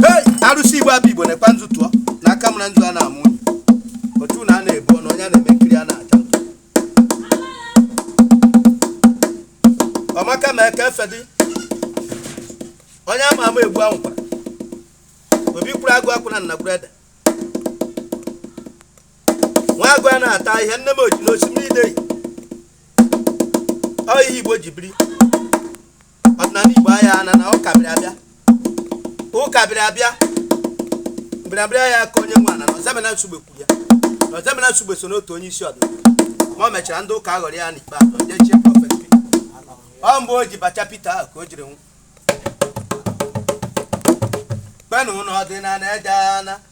Hey! arụsị igbo abụ igbo na-ekwa nzu tụọ n'aka mara nzu a na-amụ unyi. otu na a na-ebu ọnụ onye a na-eme nkiri a na-acha ntụ. ọmaka ma eke efe dị onye ama ama egbu ahụ kwara obi kwuru agụ akwụ na nnagburu ede nwa agụ a na-ata ihe nne m oji n'osimiri ideyi ọ ihe igbo ji biri ọdịnala igbo aya ana na ụka bịara abịa ụka bịara abịa mbịarabịara aya aka onye nwe ana na Ọzọemena Nsugbe kwuru ya na Ọzọemena Nsugbe so n'otu onye isi ọdịnala ma o mechara ndị ụka aghọrọ ya n'ikpeazụ ndị chie Prophet Peter ọ mgbe o ji bacha Peter ahụ ka o jiri nwụọ kpenụ na ọdịnala aya ana